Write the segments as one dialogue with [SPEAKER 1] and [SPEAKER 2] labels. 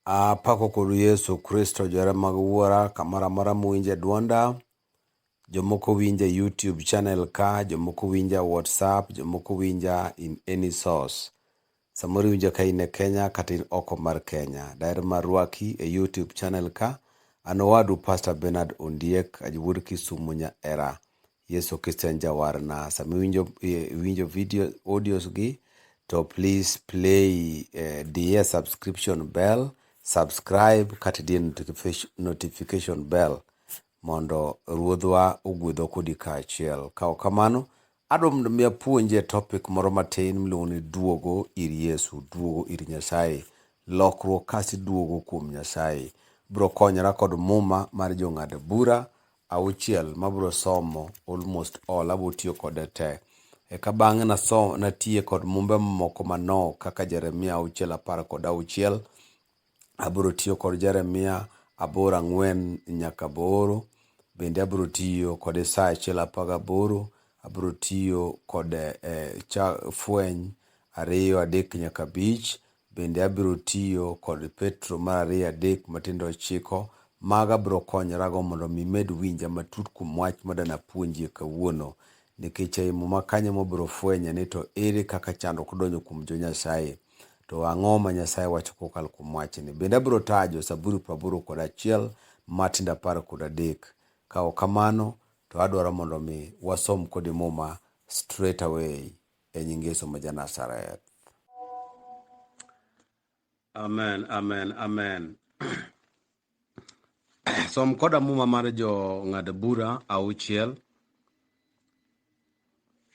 [SPEAKER 1] Apako kodu Yesu Kristo, johera mag Wuora, kamoro amora muwinje dwonda. Jomoko winja e YouTube channel ka, jomoko winja e WhatsApp, jomoko winja in any source. Samoro iwinja ka in e Kenya kata in oko mar Kenya. Daher mar rwaki e YouTube channel ka. An owadu Pastor Bernard Ondiek, Ajwuod Kisumu nya era. Yesu Kristo en jawarna. Sama iwinjo eh, iwinjo video audios gi to please play eh, diye subscription bell, subscribe kata diye notification, notification bell mondo ruodhwa ogwedho kodi kaachiel. Ka ok kamano, adwa mondo mi apuonji e topic moro matin miluongo ni duogo ir Yesu, duogo ir Nyasaye, lokruok kasi duogo kuom Nyasaye. Biro konyora kod muma mar jong'ad bura auchiel mabro somo almost all abo tiyo kode te. Eka bang'e naso natiye kod mumbe moko manok kaka Jeremia auchiel apar kod auchiel. Abro tiyo kod Jeremia aboro ang'wen nyaka aboro. Bende abro tiyo kod Isaya achiel apar gaboro. Abro tiyo kod eh, cha, fweny ariyo adek nyaka abich. Bende abiro tiyo kod Petro mar ariyo adek matindo ochiko maga abiro konyorago mondo mi med winja matut kuom wach madana puonjie kawuono nikech ei muma kanyo mobiro fwenye ni to ere kaka chandruok donjo kuom jo Nyasaye to ang'o ma Nyasaye wacho kokalo kuom wachni. Bende abiro taa jo Zaburi praboro kod achiel matindo apar kod adek. Ka ok kamano to adwaro mondo mi wasom kodi muma straight away. e nying Yesu ma Janazareth. Amen, amen, amen. Som koda muma mar jo ng'ad bura auchiel.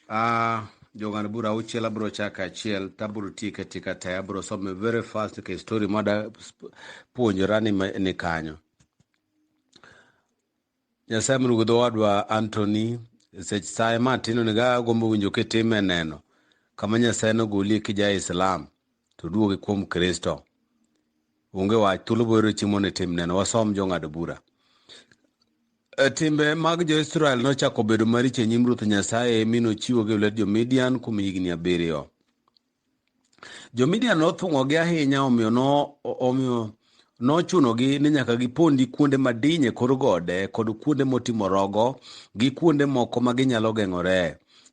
[SPEAKER 1] Ah, jo ng'ad bura auchiel abro chako achiel tabro tiyo ka tika te abro some very fast nikech story mada puonjora ni, ma- ni kanyo. Nyasaye mondo gwedho wadwa Anthony sech saye ma tino ni ga gombo winjo kitime neno kama Nyasaye nogolie kija Islam to duogi kuom Kristo. Onge wach thuolo boero chimo ni tim neno wasom jong'ad bura. E, timbe mag jo-Israel nochako bedo maricho e nyim Ruoth Nyasaye mi nochiwogi e lwet jo-Midian kuom higni abiriyo. Jo-Midian nothung'ogi ahinya, omiyo no, omiyo nochunogi ni nyaka gipondi kuonde madiny e kor gode kod kuonde motimo rogo gi kuonde moko ma ginyalo geng'ore.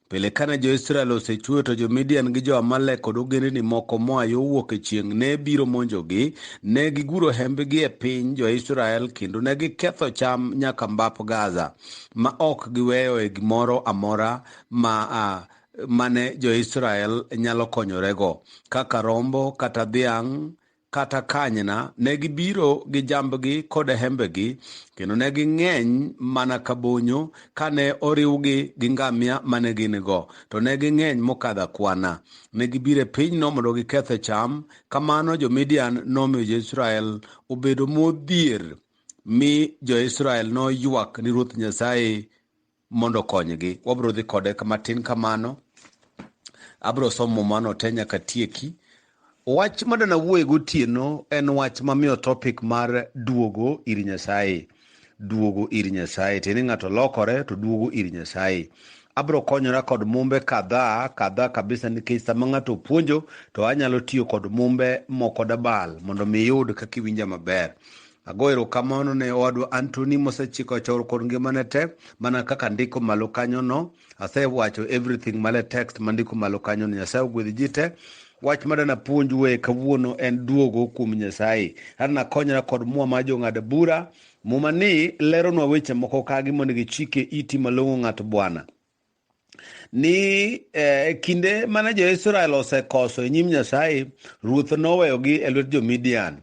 [SPEAKER 1] Pile kane jo-Israel osechweyo to jo-Midian gi jo-Amalek kod ogendni moko moa yo wuok e chieng' ne biro monjogi, ne giguro hembgi e piny jo-Israel kendo ne giketho cham nyaka mbap Gaza, ma ok giweyoe gimoro amora ma a mane jo-Israel nyalo konyorego, kaka rombo kata dhiang' kata kanyna, ne gibiro gi jambgi kod hembegi, kendo ne ging'eny mana ka bonyo, kane oriwgi gi ngamia mane gin-go, to ne ging'eny mokadho akwana. Ne gibiro e pinyno mondo gikethe cham, kamano jo-Midian nomiyo jo-Israel obedo modhier, mi jo-Israel noywak ni Ruoth Nyasaye mondo okonygi. Wabiro dhi kode matin kamano. Abiro somo mano te nyaka tieki. Wach madana wuoye gotieno en wach mamiyo topic mar duogo ir Nyasaye. Duogo ir Nyasaye. Tiende ng'ato lokore to duogo ir Nyasaye. Abiro konyora kod mumbe kadhaa kadhaa kabisa nikech sama ng'ato puonjo to anyalo tiyo kod mumbe moko dabal mondo mi iyud kaka iwinja maber. Ago erokamano ne owadwa Anthony mosechiko chor kod ngimane te mana kaka ndiko malo kanyo no. Asewacho everything male text mandiko malo kanyo no. Nyasaye ogwedhi ji te. Wach madana puonj we kawuono en duogo kuom Nyasaye. Adana konyra kod mwa ma jong'ad bura. Muma ni leronwa weche moko kagi mondo gichike iti malong'o ng'at Bwana. ni eh, kinde mane jo-Israel osekoso e nyim Nyasaye, ruoth noweyogi e lwet jo-Midian.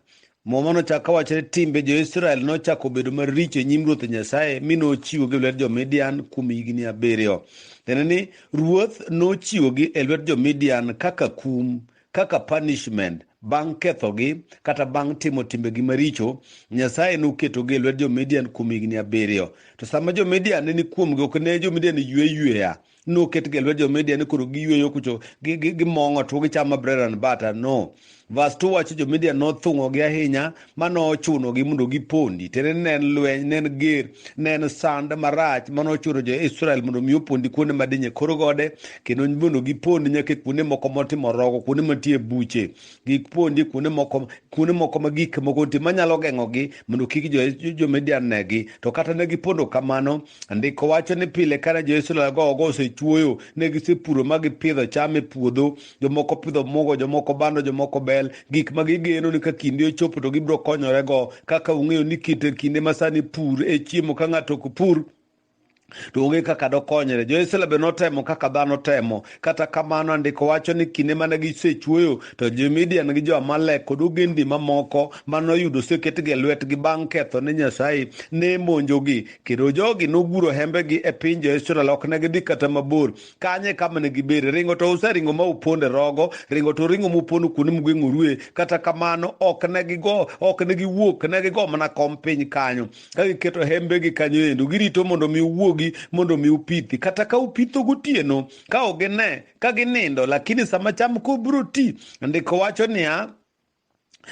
[SPEAKER 1] Muma nochako wacho ni timbe jo-Israel nochako bedo maricho e nyim ruoth Nyasaye mi nochiwogi e lwet jo-Midian kuom higni abiriyo. Tiende ni ruoth nochiwogi e lwet jo-Midian kaka kum kaka punishment bang' kethogi kata bang' timo timbegi maricho nyasaye noketogi e lwet jo-midian kuom higni abiriyo to sama jo-midian ne ni kuomgi ok ne jo-midian ywe yweya noketgi e lwet jo-midian ni koro giyweyo kucho gimong'o tuo gichamo bread and butter no vas to wacho jo-midian nothung'ogi ahinya mano ochunogi mondo gipondi tiende ni ne en lweny ne en ger ne en sand marach mano ochuno jo-israel mondo mi opondi kuonde madinye kor gode kendo mondo gipondi nyaka e kuonde moko motimo rogo kuonde mantie buche gipondi kuonde moko kuonde moko ma gik moko nitie manyalo geng'ogi mondo kik jo- jo-midian negi to kata ne gipondo kamano ndiko wacho ni pile kane jo-israel go ogo osechuoyo ne gisepuro ma gipidho cham e puodho jomoko pidho mugo jomoko bando jomoko bel gik ma gigeno ni ka kinde ochopo to gibiro konyorego kaka ung'eyo ni kit kinde ma sani pur e chiemo ka ng'ato ok pur to onge kaka dokonyre jo-israel be notemo kaka dhano temo kata kamano andiko wacho ni kinde mane gisechuoyo to jo-midian gi jo-amalek kod ogendni mamoko mane oyudo oseketgi e lwetgi bang' ketho ne nyasaye ne monjogi kendo jogi noguro hembegi e piny jo-israel ok ne gidhi kata mabor kanye kama ne gibere ringo to useringo ma uponde rogo ringo to ringo mupondo kuonde mugeng'orue kata kamano ok ne gigo ok ne giwuok ne gigo mana kom piny kanyo ka giketo hembegi kanyo endo girito mondo mi uwuogi mondo mi upithi kata ka upitho gotieno ka ok gine ka ginindo lakini sama cham kobiro ti ndiko wacho niya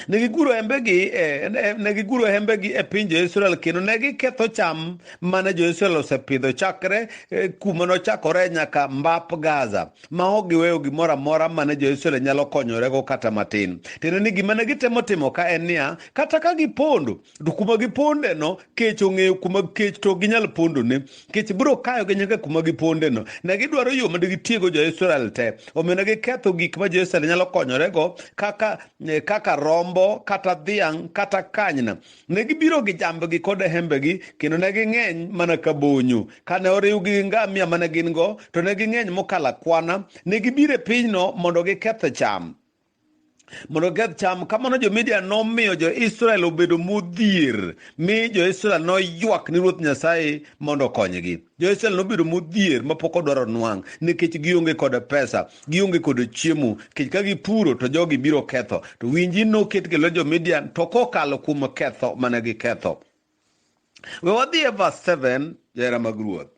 [SPEAKER 1] negiguro hembegi eh, ne- negiguro hembegi e piny jo-israel kendo ne giketho cham mane jo-israel osepidho chakre eh, kuma nochakore nyaka mbap gaza ma ok giweyo gimoro amora mane jo-israel nyalo konyorego kata matin tiende ni gima ne gitemo timo ka en niya kata ka gipondo to kuma giponde no kech ong'eyo kuma kech to ginyal pondo ne kech biro kayo gi nyaka kuma giponde no ne gidwaro yo mondo gitiego jo Israel te omiyo ne giketho gik ma jo Israel nyalo konyore go kaka eh, kaka rombo kata dhiang' kata kanyna ne gibiro gi jambgi kod hembegi kendo ne ging'eny mana ka bonyo kane oriwgi gi ngamia mane gin go to ne ging'eny mokalo akwana ne gibiro e pinyno mondo giketh cham mondo giketh cham kamano jomidia nomiyo jo-israel obedo modhier mi jo-israel noywak ni ruoth nyasaye mondo okonygi jo-israel nobedo modhier mapok odwaro nwang' nikech gionge kod pesa gionge kod chiemo nikech ka gipuro to jogi biro ketho to winji noket kelo jo-midian to kokalo kuom ketho mane giketho we wadhi e vas 7 johera mag ruoth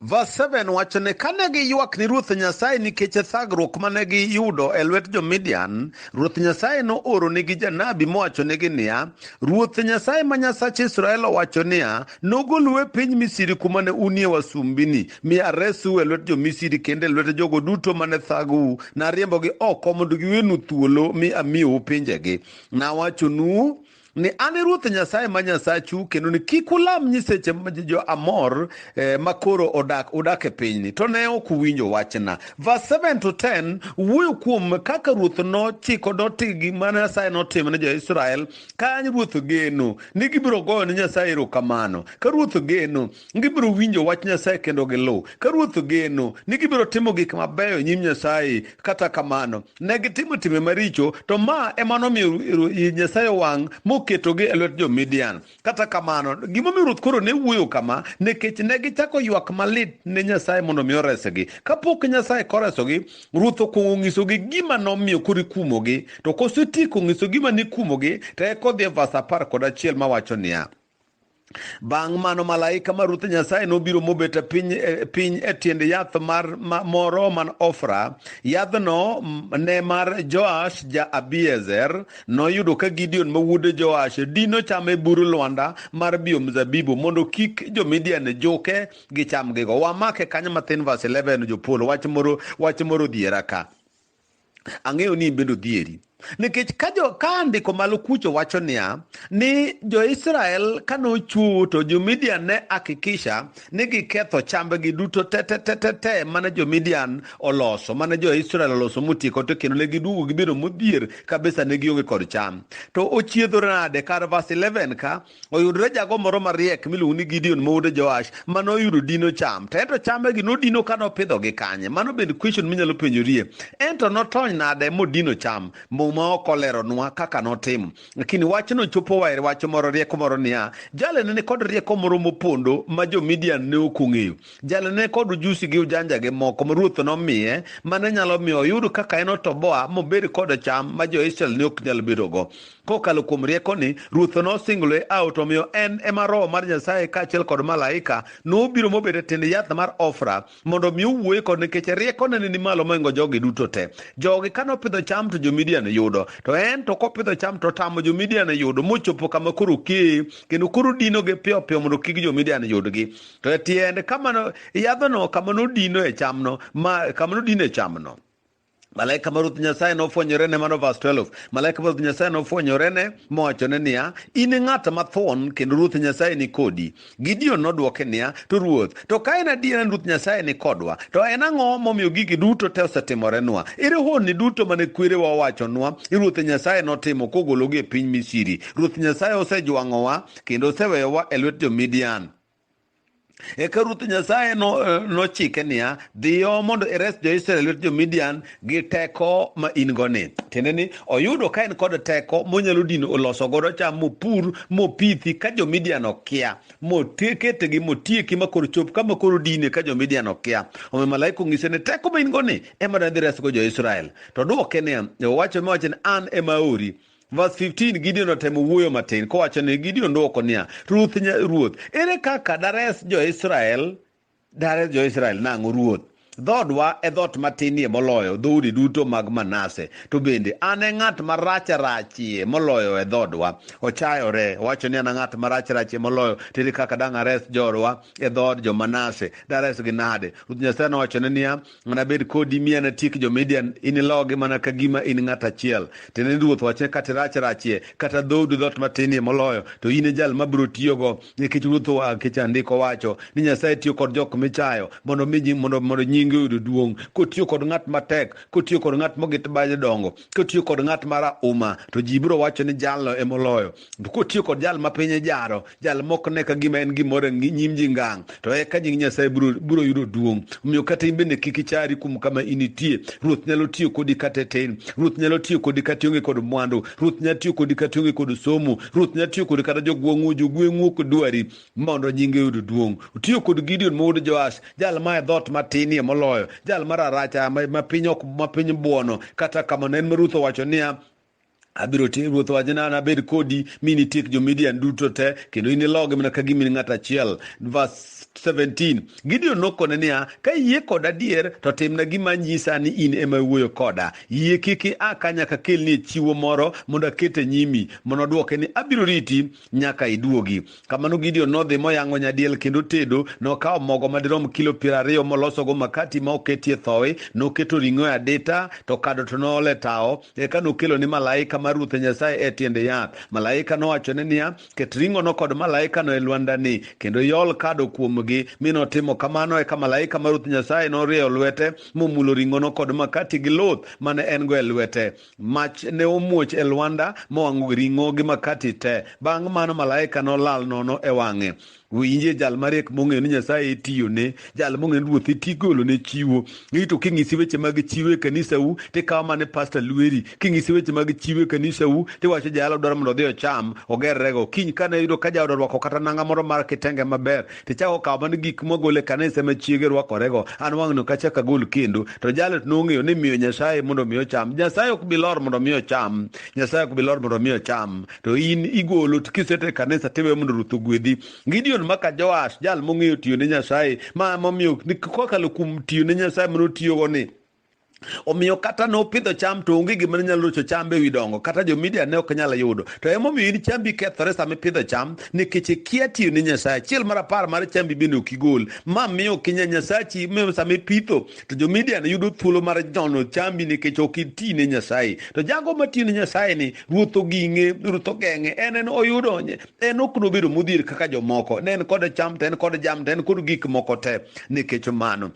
[SPEAKER 1] Verse 7 wacho ni kane giywak ni Ruoth Nyasaye nikech thagruok mane giyudo e lwet jo-Midian, Ruoth Nyasaye nooronigi janabi mowachonigi niya, Ruoth Nyasaye ma Nyasach Israel owacho niya, nogolu e piny Misri kuma ne unie wasumbini, mi aresu e lwet jo-Misri kendo e lwet jogo duto mane thagou. Nariembogi oko mondo giwenu thuolo mi amiyou pinjegi. Nawachonu ni an e ruoth nyasaye ma nyasachu kendo ni kik ulam nyiseche ma jo amor eh, ma koro odak udak e pinyni to ne ok uwinjo wachna verse 7 to 10 wuoyo kuom kaka ruoth nochiko doti gi ma nyasaye notimo ne jo-israel ka ruoth geno ni gibiro goyo ne nyasaye erokamano ka ruoth geno gibiro winjo wach Nyasaye kendo giluw. Ka ruoth ogeno ni gibiro timo gik mabeyo e nyim Nyasaye, kata kamano ne gitimo timbe maricho, to ma ema nomiyo Nyasaye wang' moketogi e lwet jo-Midian. Kata kamano, gimomiyo ruoth koro ne wuoyo kama, nikech ne gichako ywak malit ne Nyasaye mondo mi oresgi. Kapok Nyasaye koresogi, ruoth okwongo ng'isogi gima nomiyo koro ikumogi, to kosetieko ng'iso gima nikumogi, to eka odhi e vas apar kod achiel mawacho niya, Bang' mano malaika ma Ruoth Nyasaye nobiro mobet e piny, e piny e tiend yath mar ma, moro man Ofra. Yadhno ne mar Joash ja Abiezer. Noyudo ka Gideon ma wuod Joash dino cham e bur lwanda mar bio mzabibu mondo kik jo-Midian juke gi chamgigo. Wamake kanyo mathin verse 11 jopolo wach moro wach moro dhiera ka. Ang'eyo ni ibedo dhieri. Nikech ka jo ka andiko malo kucho wacho niya ni jo-Israel ka nochwowo to jo-Midian ne hakikisha ni giketho chambgi duto te te te te te mane jo-Midian oloso mane jo-Israel oloso motieko to kendo ne giduogo gibedo modhier kabisa ne gionge kod cham. To ochiedho nade kar verse 11 ka oyudore jago moro mariek miluongo ni Gideon mowode Joash ma noyudo dino cham to ento chamegi nodino ka nopidho gi kanye mano bende question minyalo penjorie ento notony nade modino cham muma ok oleronwa kaka notimo lakini wachno chopo waer wacho moro rieko moro niya jale ne kod rieko moro mopondo ma jo Midian ne ok ong'eyo jale ne kod ujusi gi ujanja gi moko ma ruoth nomiye mane nyalo miyo oyud kaka en otoboa mobed kod cham ma jo Israel ne ok nyal bedogo Kokalo kuom riekoni, Ruoth nosingloe ao to omiyo en ema Roho mar Nyasaye kaachiel kod malaika nobiro mobet e tiend yath mar ofra mondo omi owuoye kod nikech riekone ne ni malo moingo jogi duto te. Jogi ka nopidho cham to jo-Midian yudo, to en to kopidho cham to otamo jo-Midian yudo mochopo kama koro okeye kendo koro odinogi piyo piyo mondo kik jo-Midian yudgi. To e tiend kama yadhno kama nodinoe chamno, ma kama nodinoe chamno. malaika mar ruoth nyasaye nofwenyorene mano vas 12 malaika mar ruoth nyasaye nofwenyorene mowachone niya in ng'at mathon kendo ruoth nyasaye ni kodi gideon nodwoke niya to ruoth to ka en adiera ni ruoth nyasaye ni kodwa to en ang'o momiyo gigi duto te osetimorenwa ere honni duto mane kwerewa owachonwa i ruoth nyasaye notimo kogologi e piny misiri ruoth nyasaye osejwang'owa kendo oseweyowa e lwet jo-midian eka ruoth nyasaye no- nochike niya dhiyo mondo ires jo-israel lwet jo-midian gi teko ma in go ni tiende ni oyudo ka en kod teko monyalo dino oloso godo cham mopur mopithi ka jo-midian okia moteketegi motieki ma koro chop kama koro dine ka jo-midian okia omiyo malaika ong'ise ni teko ma in go ni ema nadhi resgo jo-israel to dwoke niya owacho miwacho ni an ema aori Verse 15 Gideon otemo wuoyo matin kowacho ni Gideon dwoko niya, Ruth ruoth, ere kaka dares jo-Israel? Dares jo-Israel nang'o ruoth? Dhoodwa e dhoot matinie moloyo dhoudi duto mag Manase, to bende an e ng'at marach rachie moloyo e dhoodwa. Ochayore, owacho ni an e ng'at marach rachie moloyo, to ere kaka dang' ares joodwa e dhood jo-Manase? Daresgi nade? Ruoth Nyasaye nowachone niya, anabed kodi mi anatiek jo-Midian, inilogi mana ka gima in ng'at achiel. Tiende ni ruoth wachne kata irach rachie, kata dhoodu dhoot matinie moloyo, to in e jal ma biro tiyogo, nikech ruoth nikech andiko wacho ni Nyasaye tiyo kod jok michayo mondo mi mondo mondo nyinge oyud duong'. Kotiyo kod ng'at matek, kotiyo kod ng'at mogit baje dongo, kotiyo kod ng'at ma rauma, to ji biro wacho ni jalno e moloyo. to kotiyo kod jal ma piny jaro jal mok ne ka gima en gimoro e nyim ji ngang to eka nying nyasaye biro yudo duong' omiyo kata in bende kik ichari kuom kama initie ruoth nyalo tiyo kodi kata e tin ruoth nyalo tiyo kodi kata ionge kod mwandu ruoth nyalo tiyo kodi kata ionge kod somo ruoth nyalo tiyo kodi kata jogweng'u jogweng'u ok dwari mondo nyinge yud duong' otiyo kod gideon mowuod joash jal ma e dhoot matinie moloyo jal mararacha ma piny ok ma piny buono kata kamano en ma ruoth owacho niya Abiro tiyo ruoth wacho ni anabed kodi mi nitiek jo-Midian duto te kendo inilogi mana ka gima in ng'at achiel. Verse 17 Gideon nokone niya, ka iyie koda adier to timna gima anyisa ni in ema iwuoyo koda. Yie kik ia ka nyaka akelni chiwo moro mondo aket e nyimi. Mondo odwoke ni, abiro riti nyaka iduogi. Kamano Gideon nodhi moyang'o nyadiel kendo tedo. Nokawo mogo madirom kilo piero ariyo molosogo makati ma oketie thowi. Noketo ring'o e adita, to kado to noolo e tawo. Eka nokelo ni malaika mar Ruoth Nyasaye e tiende yath. Malaika nowachone niya, Ket ring'ono kod malaikano e lwandani, kendo iol kado kuomgi. Mi notimo kamano, eka malaika mar Ruoth Nyasaye norieyo lwete momulo ring'ono kod makati gi luth mane en-go e lwete. Mach ne omuoch e lwanda mowang'o ring'o gi makati te. Bang' mano malaika nolal nono e wang'e. Winje jal mariek mong'eyo ni Nyasaye itiyone, jal mong'eyo ni Ruoth iti golone chiwo. Ni to king'isi weche mag chiwo e kanisau, tikawo mane pasta lweri. King'isi weche mag chiwo e kanisau, tiwacho jayalo dwaro mondo odhi ocham, ogerrego. Kiny kane yudo ka jaoda orwako kata nanga moro mar kitenge maber, to chako okawo mana gik mogole kanisa ma chiege rwakorego an wang'no kachak agol kendo to jalo to nong'eyo ni miyo nyasaye mondo mi ocham nyasaye ok bilor mondo mi ocham nyasaye ok bilor mondo mi ocham to in igolo to kisete kanisa tiwe mondo ruth ogwedhi gideon maka joash jal mong'eyo tiyo ne nyasaye ma momiyo kokalo kuom tiyo ne nyasaye mano tiyogo ni omiyo kata ne opidho cham to onge gima ne nyalo rocho cham e wi dongo kata jo media ne ok nyal yudo to emomiyo in chambi kethore sama ipidho cham nikech ikia tiyo ne nyasaye achiel mar apar mar chambi bende ok igol ma miyo ok inya nyasachi miyo sama ipitho to jo media ne yudo thuolo mar jono chambi nikech ok iti ne nyasaye to jago matiyo ne nyasaye ni ruoth oging'e ruoth ogeng'e en en oyudo en ok nobedo modhier kaka jomoko ne en kod cham to en kod jam to en kod gik moko te nikech mano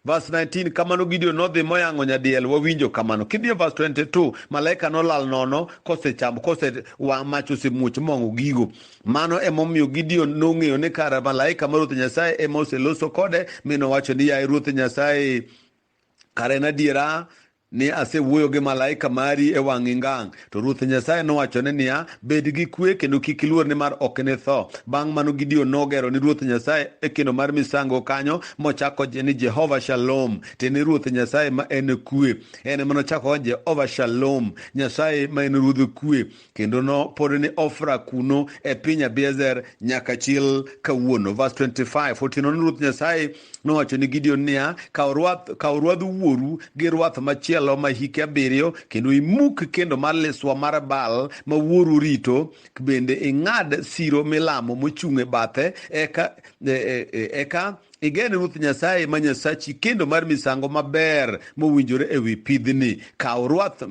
[SPEAKER 1] Verse 19, kamano Gideon nodhi moyang'o nyadiel, wawinjo kamano. Kidhi e verse 22, malaika nolal nono kosechamo kose wa mach osemuoch mong'o gigo. Mano emomiyo Gideon nong'eyo ni kara malaika ma Ruoth Nyasaye ema oseloso kode, mi nowacho ni yaye Ruoth Nyasaye, kara en adiera ni asewuoyo gi malaika mari e wang'i ngang'. To Ruoth Nyasaye nowachone niya, Bed gi kwe kendo kik iluor nimar ok initho. Bang' mano Gideon nogero ni Ruoth Nyasaye e kendo mar misango kanyo mochako ni Jehova Shalom, tiende Ruoth Nyasaye ma en kwe. En ema nochako Jehova Shalom, Nyasaye ma en Ruodh kwe. kendo nopod ni ofra kuno e piny abiezer nyaka chil kawuono vers 25 otieno ni ruoth nyasaye nowacho ni gideon niya kaw ruadh wuoru gi ruath machielo ma hike abiriyo kendo imuk kendo mar liswa mar bal ma wuoru rito bende ing'ad siro milamo mochung' e bathe eka e, e, e, eka igen ruoth nyasaye ma nyasachi kendo mar misango maber mowinjore ewi pidhni kaw ruath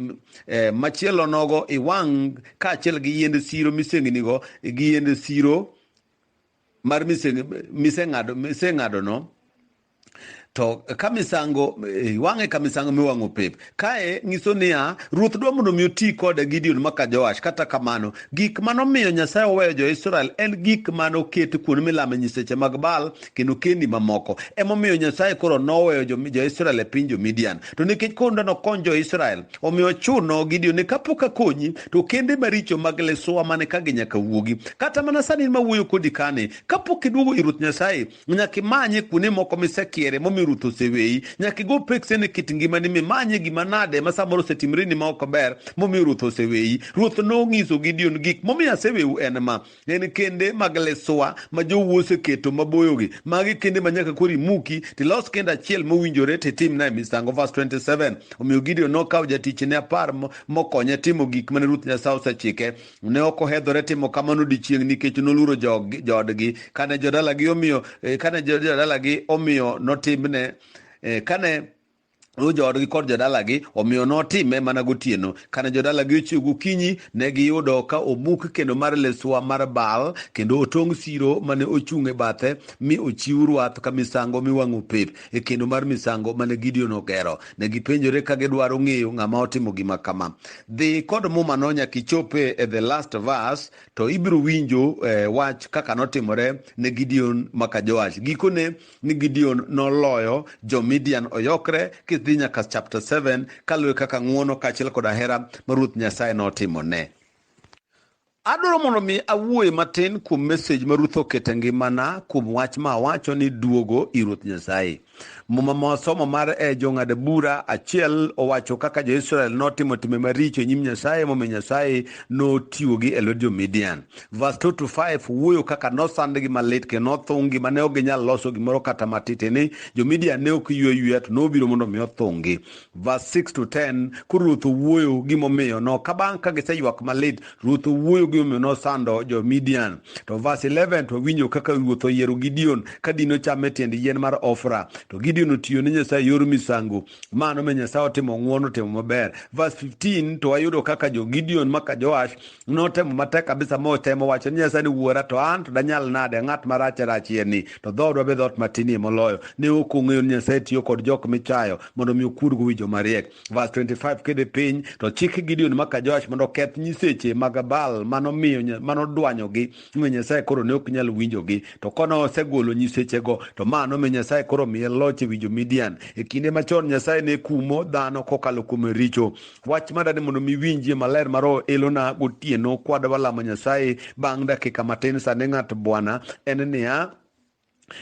[SPEAKER 1] eh, machielo nogo iwang' kaachiel gi yiend siro misengnigo gi yiend siro mar miseng'adono to ka misango eh, iwang'e ka misango miwang'o pep kae nyiso niya ruoth dwa mondo mi oti kode gideon maka joash kata kamano gik manomiyo nyasaye oweyo jo-israel en gik manoket kuonde milame nyiseche mag baal kendo kendi mamoko emomiyo nyasaye koro noweyo jo-israel e piny jo-midian to nikech koro ndano kony jo-israel omiyo chuno gidio ni kapok akonyi to kende maricho mag lesowa mane ka ginyaka wuogi kata mana sani ma wuoyo kodi kane kapok iduogo i ruoth nyasaye nyaka imanye kuonde moko misekiere momiyo ruoth oseweyi nyaka igo pekse ne kit ngimani mimanye gima nade ma samoro osetimreni ma ok ber momiyo ruoth oseweyi ruoth nong'iso gidion gik momiyo aseweu en ma en kende mag leswa ma jowuo oseketo maboyogi magi kende ma nyaka koro imuki tilos kende achiel mowinjore titimnae misango vas 27 omiyo gideon nokawo jatichne apar mokonye timo gik mane ruth nyasaye osechike ne ok ohedhore timo kamano dichieng' nikech noluoro joodgi kane jodalagi omiyo eh, kane jodalagi omiyo notimne eh, kane Ruo joodgi kod jodalagi, omiyo notime mana gotieno. Kane jodalagi ochiew gokinyi, ne giyudo ka omuk kendo mar Leswa mar Baal, kendo otong' siro mane ochung' e bathe, mi ochiw rwath ka misango miwang'o pep e kendo mar misango mane Gideon ogero. Ne gipenjore ka gidwaro ng'eyo ng'ama otimo gima kama. Dhi kod mumano nyaka ichope e the last verse, to ibiro winjo eh, wach kaka notimore ne Gideon maka Joash. Gikone ni Gideon noloyo jo-Midian oyokre kidhi nyaka chapter 7 kaluwore kaka ng'uono kaachiel kod ahera ma Ruoth Nyasaye notimone. Adwaro mondo mi awuoye matin kuom mesej ma Ruth oketo e ngimana kuom wach ma awacho ni duogo i Ruoth Nyasaye. Muma ma wasomo mar e eh, jong'ad bura achiel owacho kaka jo-Israel notimo timbe maricho e nyim Nyasaye momiyo Nyasaye notiwogi e lwet jo-Midian. Verse 2 to 5 wuoyo kaka nosandgi malit kendo nothunggi ma ne ok ginyal loso gimoro kata matiti ni jo-Midian ne ok ywe yweya to nobiro mondo mi othunggi. Verse 6 to 10 koro Ruoth owuoyo gimomiyo no ka bang' ka giseywak malit Ruoth owuoyo gimomiyo nosando jo-Midian. To verse 11 to winjo kaka Ruoth oyiero Gideon ka dino cham e tiend yien mar Ofra to Gideon otiyo ne Nyasaye yor misango mano me Nyasaye otimo ng'uono timo maber. Verse 15 to wayudo kaka jo-Gideon maka Joash notemo matek kabisa motemo wacho ni nyasaye ni wuora to an to danyal nade ng'at marach rachie ni to dhoodwa be dhoot matinie moloyo ne ok ong'eyo ni nyasaye tiyo kod jok michayo mondo mi okurgo wi joma riek vas 25 kidhi piny to chik gideon maka joash mondo oketh nyiseche mag bal manomiyo manodwanyogi omiyo nyasaye koro ne ok nyal winjogi to kone osegolo nyisechego to ma nomiyo nyasaye koro miye loch e wi jo midian e kinde machon nyasaye ne kumo dhano kokalo kuom richo wach ma dani mondo miwinjie maler ma roho elona gotieno kwadwa lamo nyasaye bang' dakika matin sani ng'at bwana en niya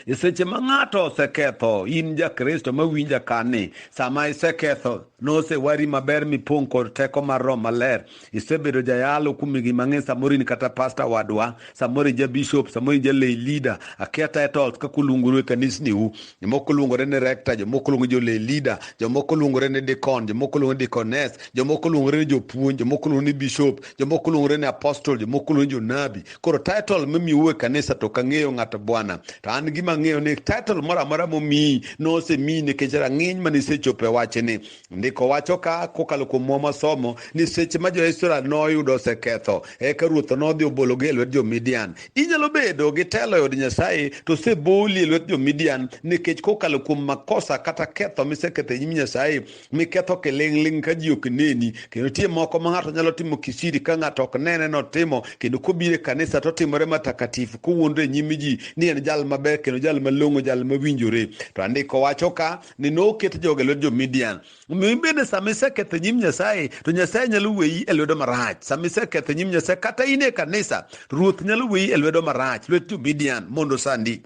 [SPEAKER 1] e seche ma ng'ato oseketho in jakristo mawinja kani sama iseketho nosewari maber mipong' kod teko mar roho maler isebedo jayalo kuom higni mang'eny samoro in kata pasta wadwa samoro ija bishop samoro ija lay leader akia titles kaka uluonguru e kanisniu jomoko luongore ni rector jomoko luongo jole leader jomoko luongore ni dicon jomoko luongo dicones jomoko luongore ni jopuonj jomoko luongo ni bishop jomoko luongore ni apostol jomoko luongo ni jonabi koro title mimiu e kanisa to kang'eyo ng'ato bwana to an gima ng'eyo ni title moro amora momiyi nosemiyi nikech rang'iny mane isechopo e wachni Ndiko wacho ka kokalo kuom mwa masomo ni seche ma jo-Israel noyudo oseketho, eka ruoth nodhi obologi e lwet jo-Midian. Inyalo bedo gi telo e od Nyasaye to oseboli e lwet jo-Midian nikech kokalo kuom makosa kata ketho miseketho e nyim Nyasaye, miketho kiling'ling' ka ji ok neni. Kendo nitie moko ma ng'ato nyalo timo kisiri ka ng'ato ok nene notimo, kendo kobiro e kanisa to otimore matakatifu kowuondre e nyim ji ni en jal maber kendo jal malong'o, jal mawinjore. To andiko wacho ka ni noket joga e lwet jo-Midian. Omiyo in bende sama iseketho e nyim Nyasaye, to Nyasaye nyalo weyi e lwedo marach. Sama iseketho e nyim Nyasaye, kata in e kanisa, Ruoth nyalo weyi e lwedo marach, lwet jo-Midian mondo sandi.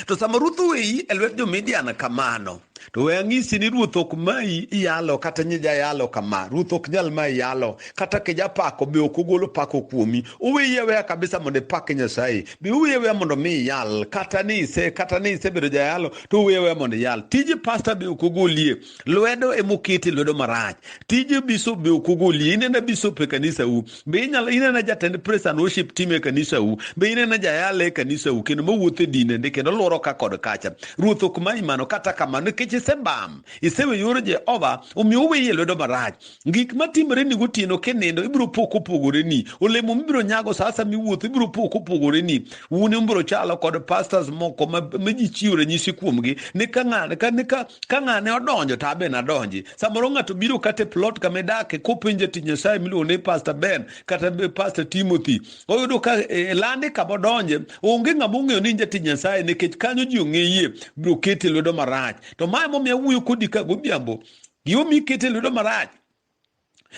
[SPEAKER 1] To sama Ruoth oweyi e lwet jo-Midian kamano, to we ang'isi ni Ruoth ok mayi iyalo kata nyi jayalo kama. Ruoth ok nyal mayi yalo, kata kijapako be ok ogolo pako kuomi. Oweyi aweya kabisa mondo ipak Nyasaye. Be uwiye weya mondo mi iyal kata ni ise kata ni isebedo jayalo to uwiye weya mondo iyal. Tij pasta be ok ogolie. Lwedo ema okete lwedo marach. Tij bishop be ok ogolie. Inena bishop e kanisa u. Be inyalo inena jatend praise and worship team e kanisa u. Be inena jayalo e kanisa u kendo mawuotho e dine ndi kendo lworo ka kod kacha. Ruoth ok manyi mano kata kamano nikech isebam. Isewe yor Jehova omiyo uwiye lwedo marach. gik matimore ni gotieno kinindo ibiro po kopogore ni olemo mibiro nyago sa asa miwuotho ibiro po kopogore ni un ibiro chalo kod pastors moko ma ji chiwo ranyisi kuomgi ni ka ng'ane odonjo to abe nadonji samoro ng'ato biro kata e plot kama idake kopenje ti nyasaye miluongo ni pastor ben kata pastor timothy oyudo ka e, e lande kama odonje onge ng'ama ong'eyo ni jati nyasaye nikech kanyo ji ong'eye biro kete lwedo marach to mae momiyo awuoyo kodi ka godhiambo gimomiyo ikete lwedo marach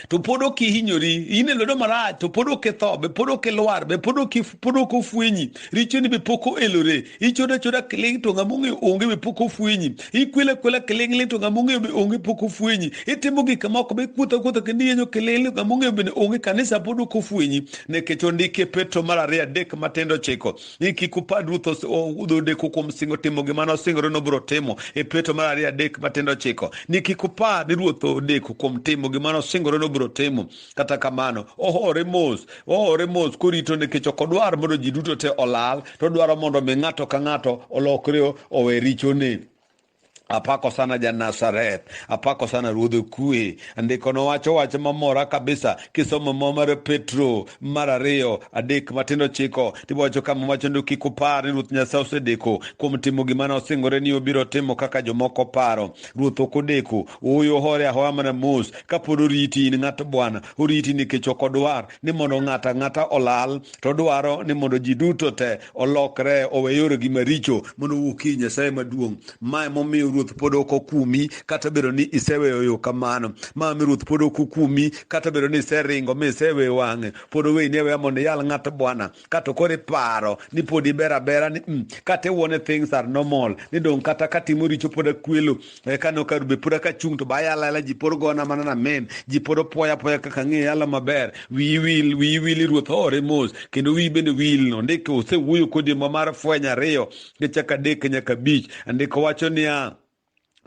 [SPEAKER 1] to pod ok ihinyori in e lwedo marach to pod ok itho be pod ok ilwar be pod ok ofwenyi richoni be pok oelore ichodo achoda kiling to ng'ama ong'eyo onge be pok ofwenyi ikwela kwela kiling'ling to ng'ama ong'eyo be onge pok ofwenyi itimo gik moko be kuotho kuotho kendo iyenyo kiling'ling ng'ama ong'eyo bende onge kanisa pod ok ofwenyi nikech ondike petro mar ariyo adek matindo chiko ni kik upad ruth udhi odeko kuom singo timo gima nosingore nobiro timo e peto mar ariyo adek matindo chiko ni kik upad ni ruoth odeko kuom timo gima nosingore nobiro timo kata kamano ohore mos ohore mos korito nikech ok odwar mondo ji duto te olal to odwaro mondo mi ng'ato ka ng'ato olokre owe richone Apako sana ja Nazareth, apako sana ruodh kue. Andikono wacho wach mamora kabisa kisomo mo mar Petro mar ariyo adek matindo chiko tiwacho kama wacho ni kik upar ni Ruoth Nyasaye osedeko kuom timo gima nosingore ni obiro timo kaka jomoko paro. Ruoth ok odeko, ooyo hore ahoya mana mos kapod oriti in ng'at Bwana, oriti nikech ok odwar ni mondo ng'ato ang'ata olal, to odwaro ni mondo ji duto te olokre owe yoregi maricho mondo owuok ir Nyasaye maduong'. Ma emomiyo Ruoth pod ok okumi kata bedo ni iseweyo yo kamano. Ma mi Ruoth pod ok okumi kata bedo ni iseringo mi iseweyo wang'e. Pod oweyi ni aweya mondo iyal ng'at Bwana. Kato koro iparo ni pod iber abera ni mm, kata iwuo ni things are normal ni dong' kata katimo richo pod akwelo e ka nokaru be pod aka chung to ba yala yala ji pod gona mana na men ji pod opoya apoya kaka ng'e yala maber wiyi wil wiyi wil i ruoth hore mos kendo wiyi bende wil no ndiko osewuoyo kodi ma mar fweny ariyo gi chaka adek nyaka abich andiko wacho niya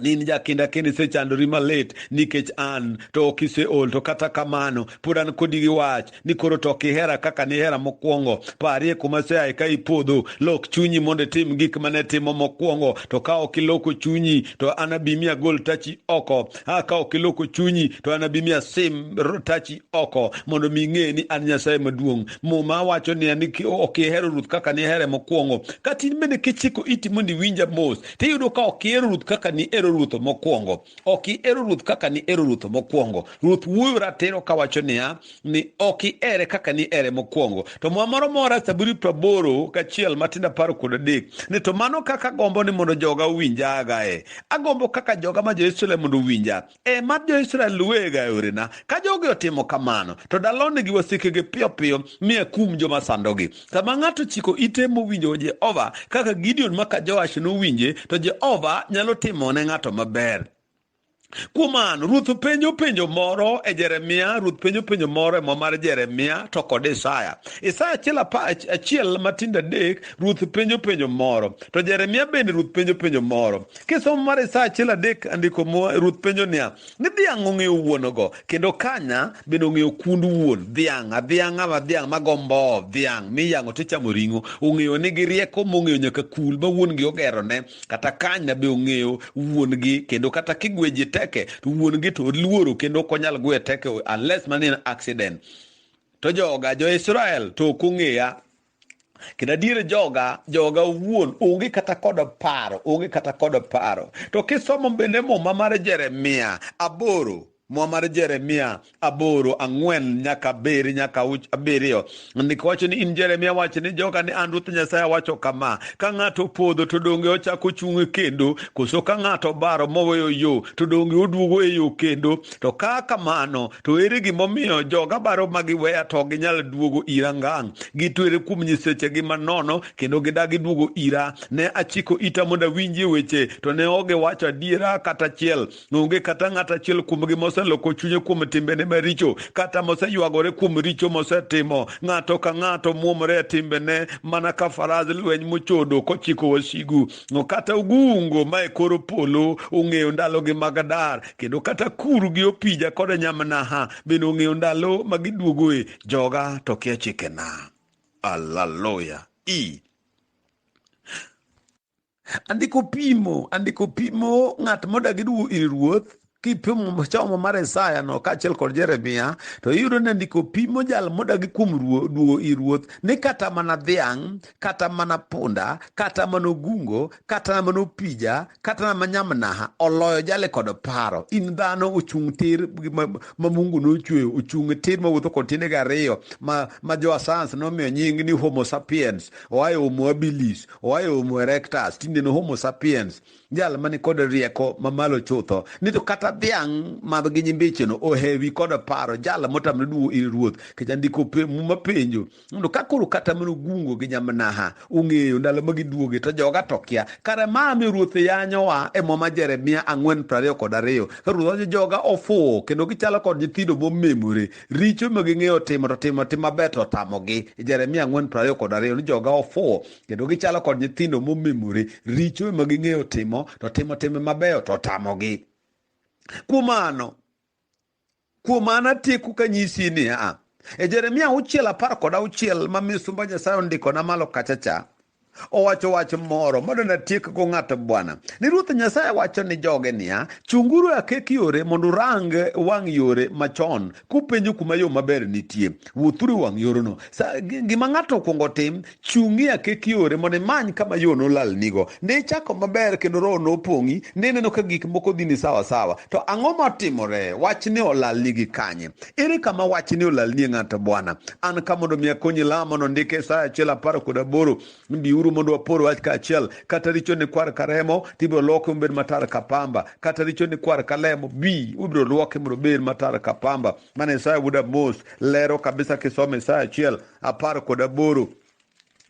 [SPEAKER 1] ni in jakinda kendo isechandori malit nikech an to ok iseol to kata kamano pod an kodi gi wach ni koro to kihera kaka nihera mokwongo parie kuma seae ka ipodho lok chunyi mondo itim gik mane timo mokwongo to ka ok iloko chunyi to anabimi agol tachi oko a ka ok iloko chunyi to anabimi asim tachi oko mondo mi ing'e ni an nyasaye maduong' muma wacho ni an ok ihero ruth kaka nihere mokwongo kata in bende kichiko iti mondo iwinja mos tiyudo ka ok ihero ruth kaka nihero ruth mokwongo ok ihero ruoth kaka ni ero ruoth mokwongo ruoth wuoyo ratiro kawacho niya ni ok ihere kaka ni ere mokwongo to mwa moro mora saburi praboro kachiel matinda paro kod adek ni to mano kaka gombo ni mondo joga owinja agae agombo kaka joga ma jo-israel mondo owinja e mar jo-israel luwega e orena ka jogi otimo kamano to dalonegi wasikegi piyo piyo mi akum joma sandogi Sama ng'ato chiko ite mowinjo Jehova kaka Gideon maka Joash nowinje, to Jehova nyalo timo ne ng'ato maber. Kuom mano, ruoth penjo penjo moro e Jeremia, ruoth penjo penjo moro e mo mar Jeremia to kod Isaya. Isaya achiel achiel matindo adek, ruoth penjo penjo moro. To Jeremia bende ruoth penjo penjo moro. Kisomo mar Isaya achiel adek andiko mo ruoth penjo niya, Ni dhiang' ong'eyo wuon-go, kendo kanya bende ong'eyo kund wuon dhiang'. Adhiang' ama dhiang' ma go mboo, dhiang' miyang'o to chamo ring'o, ong'eyo nigi rieko mong'eyo nyaka kul ma wuon-gi ogerone. Kata kanya be ong'eyo wuon-gi, kendo kata kigweji teke to wuon-gi to oluoro kendo ok onyal gwe teke unless man in accident. To joga jo-Israel to ok ong'eya. kendo adier joga joga wuon onge kata kod paro onge kata kod paro to kisomo bende muma mar jeremia aboro mwa mar jeremia aboro ang'wen nyaka abiri nyaka abiriyo ndiko wacho ni in jeremia wacho ni joga ni an ruoth nyasaye awacho kama ka ng'ato opodho to donge ochako ochung' kendo koso ka ng'ato obaro moweyo yo to donge oduogo e yo kendo To ka kamano, to ere gimomiyo joga baro ma giweya to ok ginyal duogo ira ngang'? Gitwere kuom nyisechegi manono kendo gidagi duogo ira. Ne achiko ita mondo awinjie weche, to ne ok giwacho adiera kata achiel. Onge kata ng'at achiel kuomgi moseloko chunye kuom timbene maricho, kata moseywagore kuom richo mosetimo. Ng'ato ka ng'ato muomore e timbene mana ka faraz lweny mochodo kochiko wasigu. kata ogungo ma e kor polo ong'eyo ndalogi mag dar kendo kata kuru gi opija kod nyamnaha bende ong'eyo ndalo ma giduogoe joga to kia chikena aleluya e andiko pimo andiko pimo ng'at modagi duogo ir ruoth kipimo somo mar Isaya no kaachiel kod Jeremia to iyudo ni ndiko pimo jal modagi kuom duogo i ruoth ni kata mana dhiang' kata mana punda kata mana ogungo kata mana opija kata mana nyamnaha oloyo jale kod paro in dhano ochung' tir ma Mungu nochweyo ochung' tir mawuotho kod tiendege ariyo ma, ma jo asans nomiyo nying ni homo sapiens oayo homo habilis oayo homo erectus tinde no homo sapiens jal mani kod rieko mamalo chutho ni to kata dhiang' madh gi nyimbicheno ohewi kod paro jal motamre duo ir ruoth kecha ndiko muma penjo mondo ka koro kata mana ogungo gi nyamnaha ong'eyo ndalo ma giduoge to joga to kia kare ma mi ruoth yanyowa e muma jeremia ang'wen prariyo kod ariyo ka ruoth wacho joga ofuwo kendo gichalo kod nyithindo momemore richo ma ging'eyo timo to timo tim maber to otamogi jeremia ang'wen prariyo kod ariyo ni joga ofuwo kendo gichalo kod nyithindo momemore richo ema ging'eyo timo to timo timbe mabeyo to tamogi kuom mano kuom mano atieku kanyisi niya e jeremia auchiel apar kod auchiel ma misumba nyasaye ondikona malo kachacha owacho wach moro mondo natiekgo ng'ato bwana ni ruoth nyasaye wacho ni joge niya chunguru akek yore mondo urang wang' yore machon kupenjo kuma yo maber nitie wuothuru wang' yorono gima ng'ato okwongo tim chung'i akek yore mondo imany kama yo nolal nigo ne ichako maber kendo roho nopong'i ne ineno ka gik moko dhi ni sawa sawa to ang'o motimore wach ni olal nigi kanye ere kama wach ni olal nie ng'ato bwana an ka mondo mi akonyi lamo nondike sa achiel apar kod aboro biuru mondo wapor wach kaachiel kata richo ni kwar ka remo to ibiro loke mobed matar ka pamba kata richo ni kwar ka lemo bi ibiro lwoke mondo obed matar ka pamba mana isaya wuod amos lero kabisa kisoma isaya achiel apar kod aboro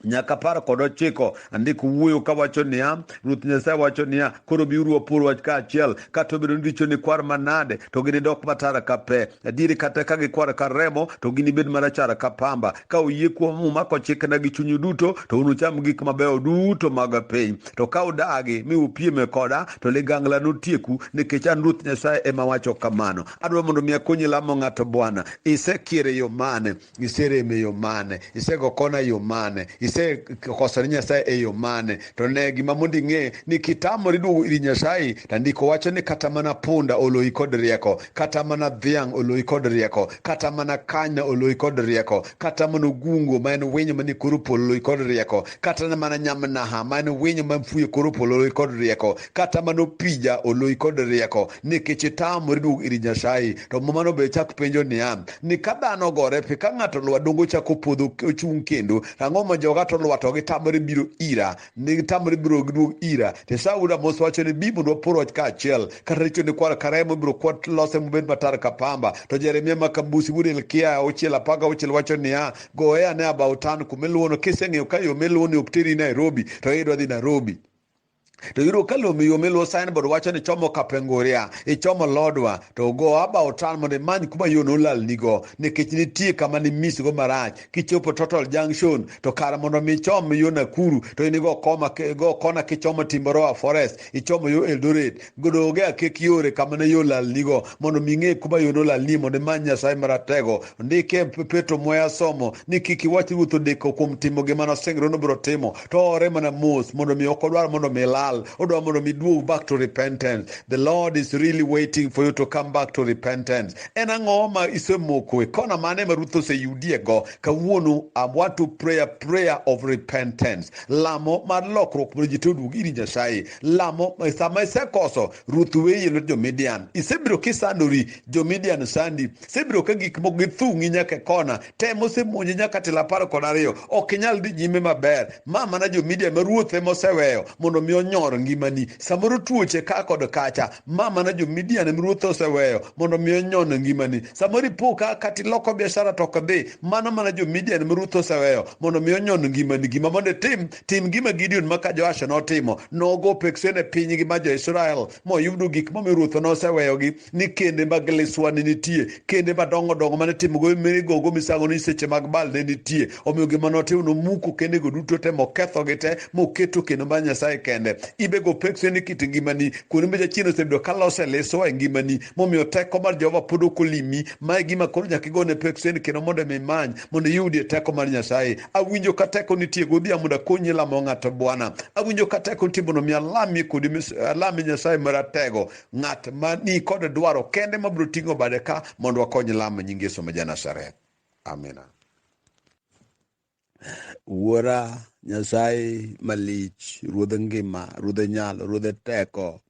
[SPEAKER 1] nyaka apar kod ochiko andiko wuoyo kawacho niya ruoth nyasaye wacho niya koro biuru wapor wach kaachiel kata obedo ni richo ni kwar manade to ginidok matara ka pe Adieri kata ka gikwar kar remo to ginibed marachar ka pamba. Ka uyie kuom muma kochikna gi chunyu duto to unucham gik mabeyo duto mag piny. To ka udagi mi upieme koda to ligangla notieku nikech an Ruoth Nyasaye ema wacho kamano. Adwa mondo mi akonyi lamo ng'at Bwana. Isekier e yo mane? iserem e yo mane isego kona e yo mane isekoso ni nyasaye e yo mane to ne gima mondo ing'e ni kitamori duogo iri nyasaye to ndiko wacho ni kata mana punda oloyi kod rieko kata mana dhiang' oloyi kod rieko kata mana kanya oloyi kod rieko kata mana ogungo ma en winyo manie kor polo oloyi kod rieko kata mana nyamnaha ma en winyo ma fuyo e kor polo oloyi kod rieko kata mana opija oloyi kod rieko nikech itamori duogo iri nyasaye to mumano be chak penjo niya ni ka dhano ogore piny ka ng'ato lwa dongo chako podho ochung' kendo ang'o ma joga to lwa to gitamore biro ira ni gitamore biro giduog ira to sauda mos wacho ni bi mondo wapor wach kaachiel kata richo ni kwar karemo biro kwat lose mobed matar ka pamba to jeremia ma kambusi wuod hilkia auchiel apar gauchiel wacho niya goye ane abautan kumiluwono kiseng'eyo ka yo miluwo ni ok teri nairobi to iyudo dhi nairobi to yudo ka lomi yo miluwo signboard wacho ni chomo kapenguria ichomo lodwa to go about town mondo imany kuma yo nolalnigo nikech nitie kama nimisgo marach kichopo total junction to kar mondo mi ichom yo nakuru to in igo kona kichomo timboroa forest ichomo yo eldoret godoge akek yore kama ne yo lalnigo mondo mi ing'e kuma yo nolalnie mondo imany nyasaye maratego ndike petro mwaya somo ni kik iwach ruoth odeko kuom timo gima nosingre nobiro timo to ore mana mos mondo mi ok odwar mondo mi ilal odwar mondo mi duog back to repentance the lord is really waiting for you to come back to repentance en ang'o ma isemoko e kona mane ma ruoth oseyudiego kawuono i want to pray a prayer of repentance lamo mar lokruok mondo ji to oduog ir nyasaye lamo eh, sama isekoso ruoth weyi lwet jo-midian isebiro kisandori jo-midian osandi isebiro ka gik moko githung'i nyaka e kona tem osemonji nyaka telo apar kod ariyo ok inyal dhi nyime maber ma mana jo-midian ma ruoth ema oseweyo mondo mi onyor ngimani samoro tuoche ka kod kacha ma mana jo-midian ema ruoth oseweyo mondo mi onyon ngimani samoro ipo ka kata iloko biashara to ok dhi mano mana jo-midian ema ruoth oseweyo mondo mi onyon ngimani gima mondo itim tim gima gideon ma ka joasha notimo nogo peksene pinygi ma jo-israel moyudo gik momiyo ruoth noseweyogi ni kende mag liswa ne nitie kende madongo dongo mane timogo migogo misango ni seche mag bal ne nitie omiyo gima notimo nomuko kendego duto te mokethogi te moketo kendo mar nyasaye kende ibego peksene ni kit ngimani kuonde ma jachien osebedo ka lose liswa e ngimani momiyo teko mar jehova pod ok olimi ma e gima koro nyaka igone peksene kendo mondo mi imany mondo iyudie teko mar nyasaye awinjo ka teko nitie godhiambo mondo akonyi lamo ng'ato bwana awinjo ka teko nitie mondo mi alami kodi alami nyasaye maratego ng'at ma ni kod dwaro kende mabiro ting'o bade ka mondo wakony lamo nying yesu ma janasareth amina wuora nyasaye malich ruodh ngima ruodh nyalo ruodh teko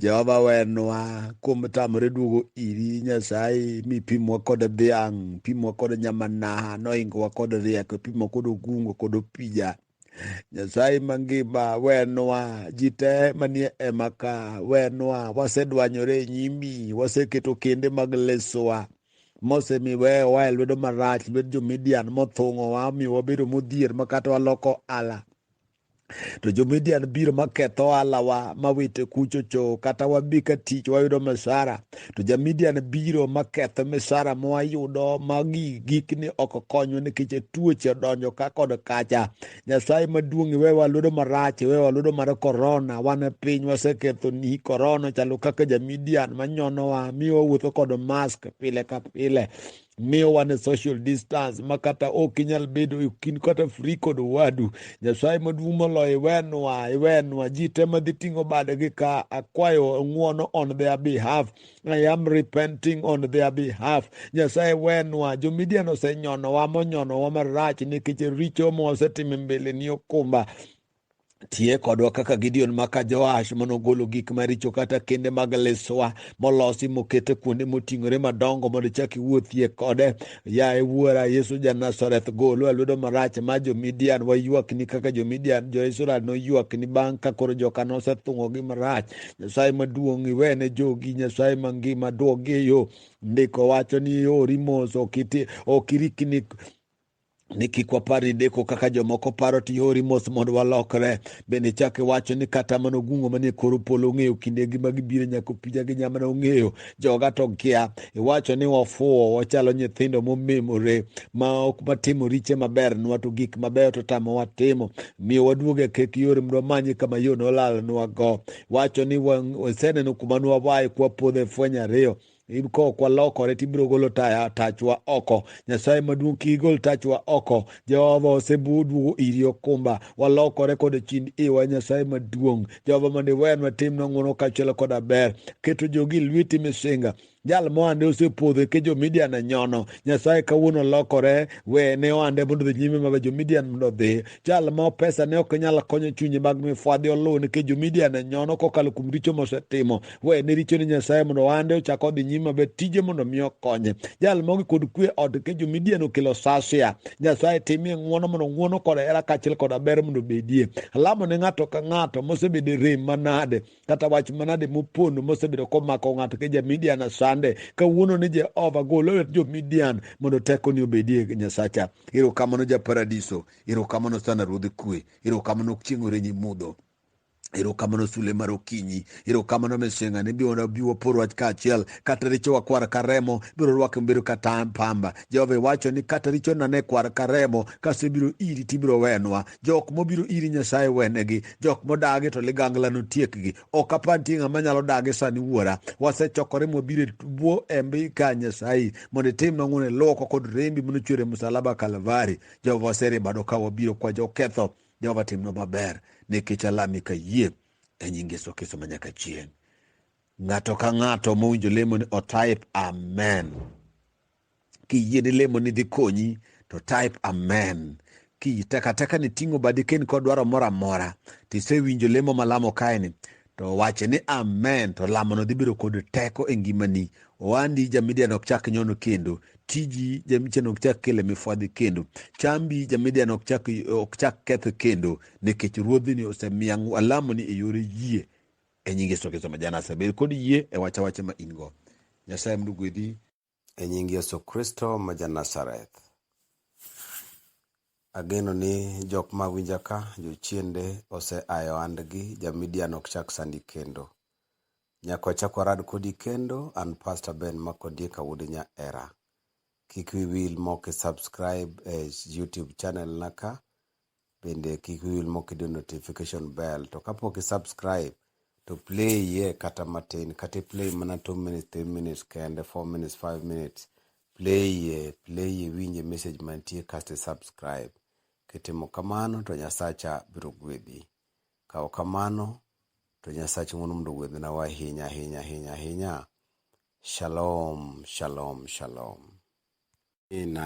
[SPEAKER 1] Jehova wenwa kuom tamore duogo iri Nyasaye mipimwa kod dhiang', pimwa kod nyamanaha, noingowa kod rieko, pimwa kod ogungo kod opija. Nyasaye mangima wenwa ji te manie ema ka wenwa, wasedwanyore e nyimi, waseketo kende mag lesowa mosemiwe oa e lwedo marach, lwed jo-Midian mothung'owa, omiyo wabedo modhier makata waloko ala to jomidian biro maketho oalawa mawite kuchocho kata wabi ka tich wayudo misara to jamidian biro maketho misara mwayudo magi gikni ok konywa nikech tuoche odonjo ka kod kacha nyasaye maduong' iwe waludo marach iwe waludo mar korona wan e piny waseketho ni korona chalo kaka jamidian manyonowa mi wawuotho kod mask pile ka pile miyo wane social distance ma kata ok inyal bedo e kind kata fri kod wadu nyasaye maduong' moloyo iwenwa iwenwa ji te madhi ting'o badgi ka akwayo ng'uono on their behalf i am repenting on their behalf nyasaye wenwa jomidian osenyonowa monyonowa marach nikech richo mosetimo mbele ni okumba tiye kodwa kaka Gideon maka Joash mane ogolo gik maricho kata kende mag liswa molosi mokete kuonde moting'ore madongo mondo chak iwuothie kode. Yaye wuora Yesu ja Nazareth, golwa e lwedo marach ma jo-Midian. Waywakni kaka jo-Midian, jo-Israel noywakni bang' ka koro joka nosethung'ogi marach. Nyasaye maduong' iwene jogi, Nyasaye mangima duogi e yo. Ndiko wacho ni ori mos, ok irikni ni kik wapar ni deko kaka jomoko paro to ihori mos mondo walokre bende chak iwacho ni kata mana ogungo manie kor polo ong'eyo kinde gi magibiro nyaka opija gi nyamana ong'eyo joga to kia iwacho ni wafuwo wachalo nyithindo momemore ma ok matimo riche maber nwa to gik mabeyo to tamo watimo miyo waduog e kek yore mondo wamanye kama yo nolalnwa go wacho ni waseneno kuma nwawaye kwapodho e fweny ariyo ka ok walokore to ibiro golo tachwa oko nyasaye maduong' kik igol tachwa oko jehova oseduogo iri okumba walokore kod chind iwa nyasaye maduong' jehova mondo iwenwa timnwa ng'wono kaachiel koda ber keto jogi lweti misinga jal mohande osepodho ke jomidian e nyono nyasaye kawuono lokore we ne ohande mondo dhi nyime mabe jomidian mondo odhi jal ma pesa ne ok nyal konyo chunye mag mifwadhi oluw nikech jomidian e nyono kokalo kuom richo mosetimo we ne richo ne nyasaye mondo ohande ochak odhi nyime maber tije mondo mi okonye jal mogi kod kwe od ke jomidian okelo sasia nyasaye timie ng'uono mondo ng'uono kod hera kaachiel koda ber mondo obedie alamo ne ng'ato ka ng'ato mosebedo e rem manade kata wach manade mopondo mosebedo komako ng'ato ke jamidian asande kawuono ni jehova gol lwet jomidian mondo tekoni obedie nyasacha erokamano ja paradiso erokamano sana ruodh kwe erokamano chieng' orenyi mudho erokamano sule mar okinyi erokamano mesenga ni biwa biwa por wach kaachiel kata richowa kwar ka remo biro rwake mobiro ka pamba jehova iwacho ni kata richona ne kwar ka remo kasebiro iri tibiro wenwa jok mobiro iri nyasaye wenegi jok modagi to ligangla notiekgi ok apa nitie ng'ama nyalo dagi sani wuora wasechokore mwabiro e bwo embi ka nyasaye mondo itim nang'one lwoko kod rembi manochwere musalaba kalvari jehova waseribado ka wabiro kwa joketho Jehova timno maber nikech alami ka yie e nying Yesu Kristo ma nyaka chieng'. Ng'ato ka ng'ato mowinjo lemo ni otype amen. Kiyie ni lemo ni dhi konyi to type amen. Ki takataka ni ting'o badi ken kod dwaro moro amora tisewinjo lemo malamo kaeni to wache ni amen to lamono dhi bedo kod teko e ngimani owandi jamidian ok chak nyono kendo tiji jamidian ok chak kele mifwadhi kendo chambi jamidian ok chak ok chak ketho kendo nikech ruodhini osemiya alamoni e yore yie e nyinge sokeso majana asebed kod yie e wacha wache ma in go nyasaye mdu gwedhi e nying Yesu Kristo ma ja Nazareth. Ageno ni jok ma winja ka jochiende ose ayo andgi jamidian ok chak sandi kendo. Nyako chako rad kodi kendo an Pastor Ben Makodie Kawude nya era. Kik wiwil moki subscribe e YouTube channel na ka bende kik wil mok idiyo notification bell to kapok i subscribe to play ye kata matin kata i play mana 2 minutes 3 minutes kende 4 minutes 5 minutes play ye play ye winje message mantie kasto i subscribe kitimo kamano to nyasacha biro gwedhi kawo kamano to nyasacha ng'wono mondo gwedhina wa ahinya ahinya ahinya ahinya shalom shalom shalom Ina.